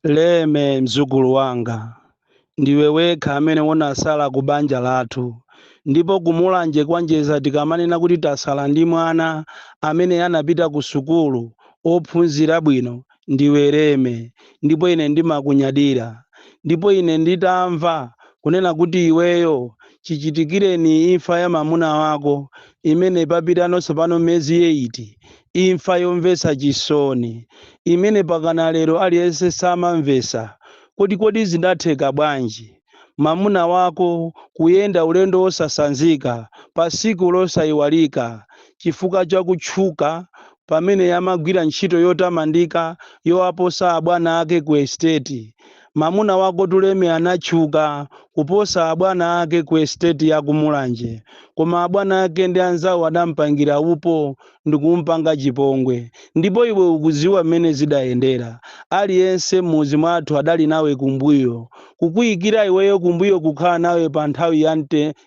leme mdzukulu wanga ndiwe wekha amene unasala ku banja lathu ndipo kumulanje kwa njedza tikamanena kuti tasala ndi mwana amene anapita ku sukulu ophunzira bwino ndiwe leme ndipo ine ndimakunyadira ndipo ine nditamva kunena kuti iweyo chichitikireni imfa ya mamuna wako imene papitano tsopano miyezi eyiti imfa yomvetsa chisoni imene pakana lero aliyense samamvetsa kuti kodi zidatheka bwanji mamuna wako kuyenda ulendo wosasanzika patsiku losaiwalika chifukwa cha kutchuka pamene amagwira ntchito yotamandika yowaposa abwana ake ku estate mamuna wakotu leme anatchuka kuposa abwana ake ku estate ya ku mulanje koma abwana ake ndi anzawo adamupangira upo ndikumpanga chipongwe. Ndipo iwe ukudziwa mmene zidayendera. Aliyense mmudzi mwathu adali nawe kumbuyo. Kukuyikira iweyo kumbuyo kukhala nawe pa nthawi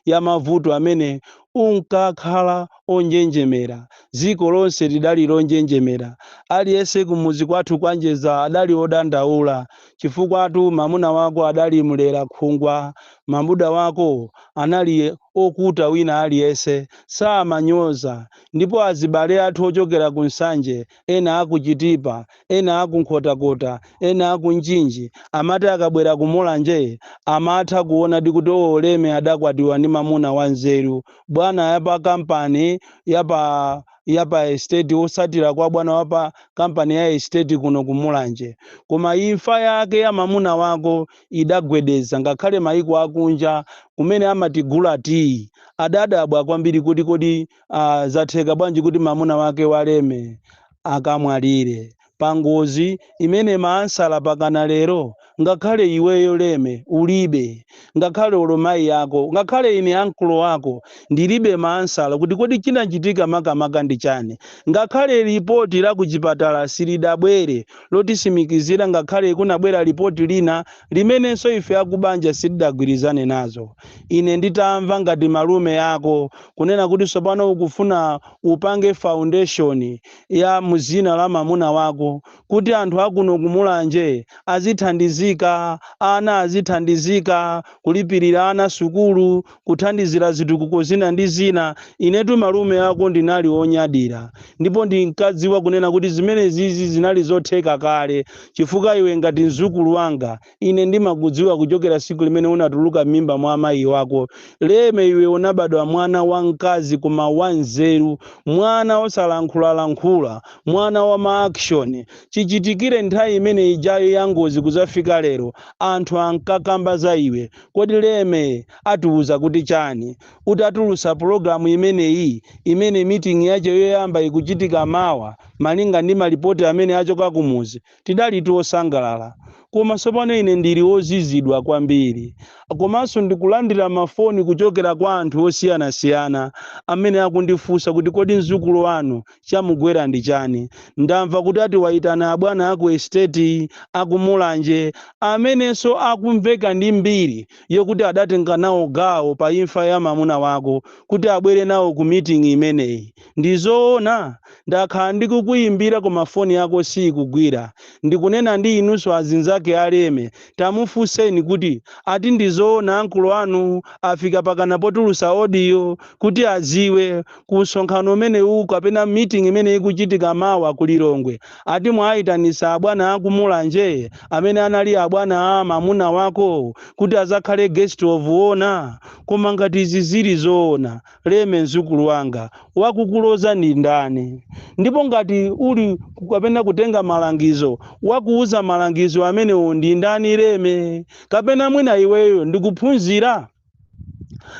ya mavuto amene unkakhala onjenjemera. Dziko lonse lidali lonjenjemera. Aliyense kumudzi kwathu kwa Njedza adali odandaula chifukwatu mamuna wako adali mlera khungwa Mamuna wako anali okuta wina aliyense samanyoza ndipo azibale athu ochokera ku Nsanje ena aku Chitipa ena aku Nkhotakota ena aku Mchinji amati akabwera ku Mulanje amatha kuonadi kuti oo Leme adakwatiwa ndi mamuna wa nzeru bwana yapa kampani yapa yapa estate otsatira kwa bwana wapa kampani ya estate kuno ku Mulanje koma imfa yake ya mamuna wako idagwedeza ngakhale maiko akunja kumene amatigula tiyi adadabwa kwambiri kuti kodi uh, zatheka bwanji kuti mamuna wake waleme akamwalire pangozi imene maansala mpakana lero ngakhale iweyo leme ulibe ngakhale olo mayi yako ngakhale ine ankolo ako ndilibe maansala kuti kodi chinachitika makamaka ndi chani ngakhale lipoti la kuchipatala silidabwere lotitsimikizira ngakhale kunabwera lipoti lina limenenso ife akubanja sitidagwirizane nazo ine nditamva ngati malume ako kunena kuti tsopano ukufuna upange foundation ya mudzina la mamuna wako kuti anthu akuno kumulanje azithandizika ana azithandizika kulipirira ana sukulu kuthandizira zitukuko zina ndi zina. Inetu malume ako ndinali wonyadira ndipo ndinkadziwa kunena kuti zimenezizi zinali zotheka kale chifukwa iwe ngati mdzukulu wanga ine ndimakudziwa kuchokera siku limene unatuluka m'mimba mwa amayi wako Leme iwe unabadwa mwana wa mkazi koma wa nzeru mwana osalankhulalankhula mwana wa ma action chichitikire nthawi imene ijayo ya ngozi kudzafika lero anthu ankakamba za iwe Kodi Leme atiuza kuti chani utatulutsa pulogalamu imeneyi imene meeting yache yoyamba ikuchitika mawa malinga ndi malipoti amene achoka kumudzi tidalitu osangalala koma tsopano ine ndili ozizwa kwambiri komanso ndikulandira mafoni kuchokera kwa anthu osiyanasiyana amene akundifunsa kuti kodi mdzukulu wanu Chamugwera ndi chani? Ndamva kuti ati waitana abwana aku estate aku Mulanje amenenso akumveka ndi mbiri yokuti adatenga nawo gawo pa imfa ya mamuna wako kuti abwere nawo ku meeting imeneyi. Ndi zoona? Ndakhala ndikukuimbira koma foni yako siikugwira. Ndikunena ndi inunso azinzake a Leme tamufunseni kuti ati ndi zoona uncle wanu afika pakana potulutsa audio kuti adziwe ku msonkhano umenewu kapena meeting imene ikuchitika mawa ku Lilongwe ati mwaayitanisa abwana aku Mulanje amene anali abwana a mamuna wako kuti adzakhale guest of honor koma ngati izi zili zoona Leme mdzukulu wanga wakulodza ndi ndani ndipo ngati uli kapena kutenga malangizo wakuuza malangizo amenewo ndi ndani Leme kapena mwina iweyo ndikuphunzira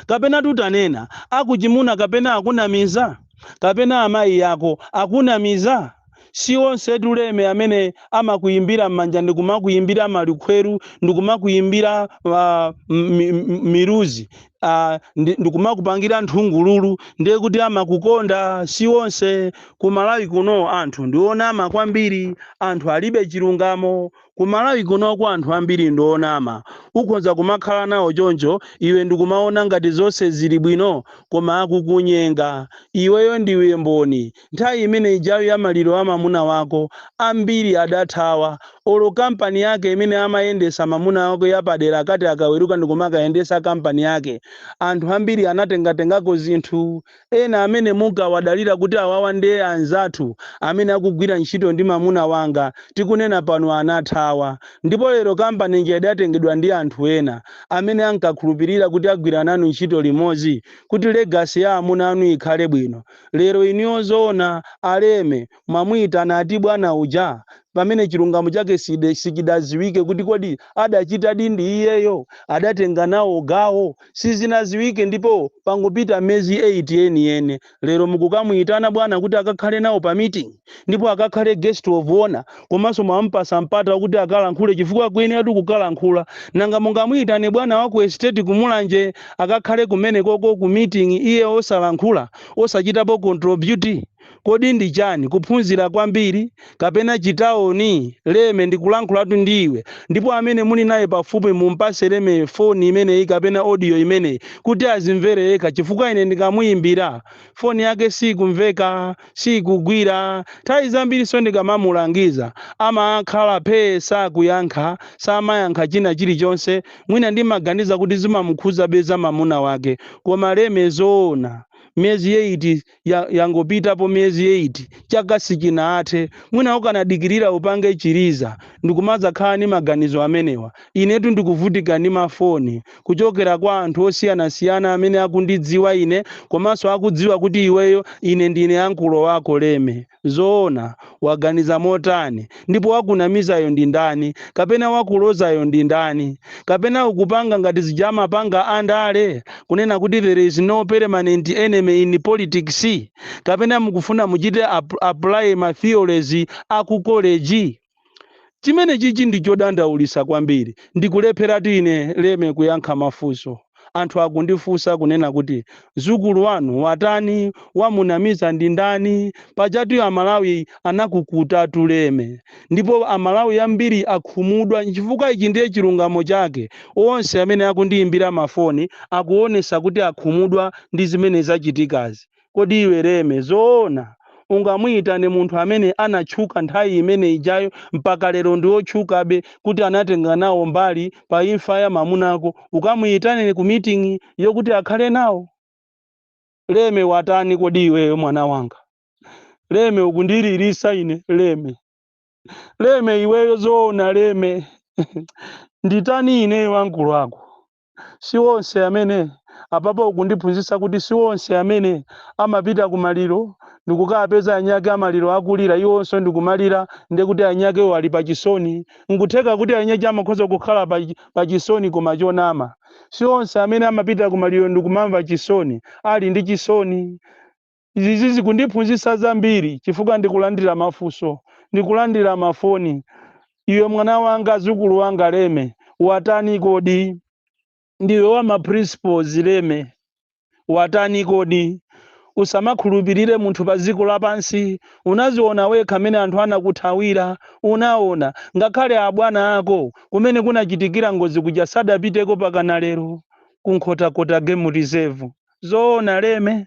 kapena tutanena akuchimuna kapena akunamiza kapena amayi ako akunamiza si onsetu Leme amene amakuyimbira m'manja ndikumakuyimbira malukhweru ndikumakuyimbira uh, miluzi uh, ndikumakupangira nthungululu ndiye kuti amakukonda si onse ku Malawi kuno anthu ndi onama kwambiri anthu alibe chilungamo Ku Malawi kunoko anthu ambiri ndi onama. Ukhonza kumakhala nawo choncho iwe ndikumaona ngati zonse zili bwino koma akukunyenga. Iweyo ndiwe mboni. Nthawi imene ijayo ya maliro a mamuna wako, ambiri adathawa. Olo kampani yake imene amayendetsa mamuna wako yapadera akati akaweruka ndikumakayendetsa kampani yake, anthu ambiri anatengatengako zinthu. ena amene munkawadalira kuti awawa nde anzathu amene akugwira ntchito ndi mamuna wanga tikunena pano anathawa ndipo lero company ija idatengedwa ndi anthu ena amene ankakhulupirira kuti agwira nanu ntchito limodzi kuti legacy ya amuna anu ikhale bwino lero inuyo zoona a Leme mwamuitana ati bwana uja pamene chilungamo chake sichidaziwike kuti kodi adachitadi ndi iyeyo adatenga nawo gawo sizinaziwike ndipo pangopita miyezi 8 yeni yene lero mukukamuitana bwana kuti akakhale nawo pa meeting ndipo akakhale guest of honor komanso mwamupasa mpata kuti akalankhule chifukwa akuyeneratu kukalankhula nanga mungamuitane bwana wa ku estate kumulanje akakhale kumenekoko ku meeting iye osalankhula osachitapo contribute Kodi ndi chani? Kuphunzira kwambiri? Kapena chitaoni? Leme, ndikulankhulatu ndi iwe. Ndipo amene muli naye pafupi mumpase Leme foni imeneyi kapena audio imeneyi kuti azimvere yekha chifukwa ine ndikamuyimbira, foni yake siikumveka, siikugwira. Nthawi zambirinso ndikamamulangiza amakhala phee sakuyankha, samayankha china chilichonse. Mwina ndimaganiza kuti zimamukhuzabe za mamuna wake. Koma Leme zoona? Miyezi eyiti ya, yangopitapo miyezi 8 chaka sichinathe mwina ukanadikirira upange chiliza ndikumadzakhala ndi maganizo amenewa inetu ndikuvutika ndi mafoni kuchokera kwa anthu osiyanasiyana amene akundidziwa ine komanso akudziwa kuti iweyo ine ndine ankulo wako leme Zoona, waganiza motani? Ndipo wakunamizayo ndi ndani? Kapena wakulozayo ndi ndani? Kapena ukupanga ngati zija amapanga a ndale, kunena kuti there is no permanent enemy in politics? Kapena mukufuna muchite apply ma theories a ku college? Chimene chichi ndi chodandaulisa kwambiri ndikulepheratu ine leme kuyankha mafunso anthu akundifunsa kunena kuti mdzukulu wanu watani wamunamiza ndi ndani pajatu amalawi anakukutatu leme ndipo amalawi ambiri akhumudwa nchifukwa ichi ndiye chilungamo chake onse amene akundiyimbira mafoni akuonesa kuti akhumudwa ndi zimene zachitikazi Kodi iwe Leme zoona ungamuyitane munthu amene anatchuka nthawi imene ijayo mpaka lero ndi otchukabe kuti anatenga nawo mbali pa imfa ya mamunako ukamuyitane ku meeting yokuti akhale nawo? Leme watani kodi iweyo mwana wanga? Leme ukundililisa ine Leme. Leme iweyo zoona Leme? Nditani ineyo ankulo ako? si onse amene apapa ukundiphunzitsa kuti si onse amene amapita ku maliro ndikukapeza anyake amaliro akulira iwonso ndikumalira ndiye kuti anyakewo ali pa chisoni nkutheka kuti anyache amakhoza kukhala pa, pa chisoni koma chonama si onse amene amapita ku maliro ndikumamva chisoni ali ndi chisoni Izi zikundiphunzitsa zambiri chifukwa ndikulandira mafunso, ndikulandira mafoni, Iwe mwana wanga, zukulu wanga Leme, watani kodi? Ndiwe wa ma principles Leme, watani kodi? Usamakhulupirire munthu pa dziko lapansi, unaziona wekha mene anthu anakuthawira, unaona, ngakhale abwana ako kumene kunachitikira ngozi kuja sadapiteko mpaka lero, ku Nkhotakota Game Reserve, zoona Leme?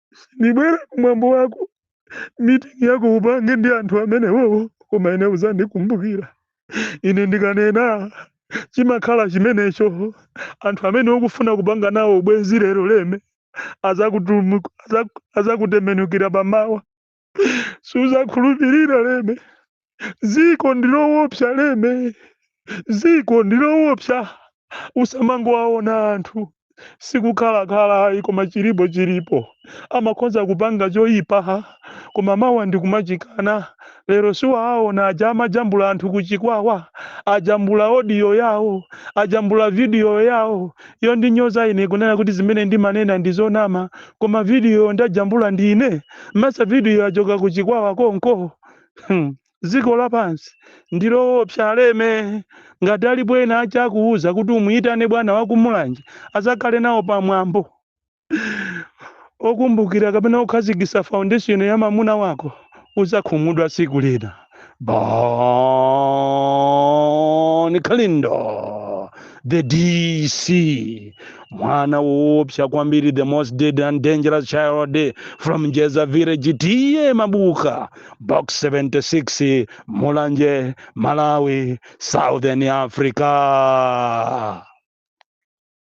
sindibwera ku mwambo wako mitingi yako upange ndi anthu amenewowo koma ine uzandikumbukira ine ndikanena chimakhala chimenecho anthu amene ukufuna kupanga nawo ubwenzi lero leme azakutembenukira pa mawa suzakhulupirira leme ziko ndilowopsa leme ziko ndilowopsa usamangowaona anthu sikukhala khala ayi koma chilipo chilipo amakhoza kupanga choyipa koma mawa ndikumachikana lero siwaaona aja amajambula anthu kuchikwawa ajambula odiyo yawo ajambula vidiyo yawo yondinyoza ine kunena kuti zimene ndimanena ndizonama koma vidiyoyo ndajambula ndine mesa video yachoka ku chikwawa konko Hmm. dziko lapansi ndiloopsa a Leme ngati alipo ena achakuuza kuti umuyitane bwana wakumulanje azakhale nawo pamwambo okumbukira kapena okhazikisa foundation ya mamuna wako uzakhumudwa tsiku lina Bon Kalindo, the DC, mwana woopsa kwambiri, the most dead and dangerous child from Jeza village, tiye mabuka, box 76, Mulanje, Malawi, Southern Africa.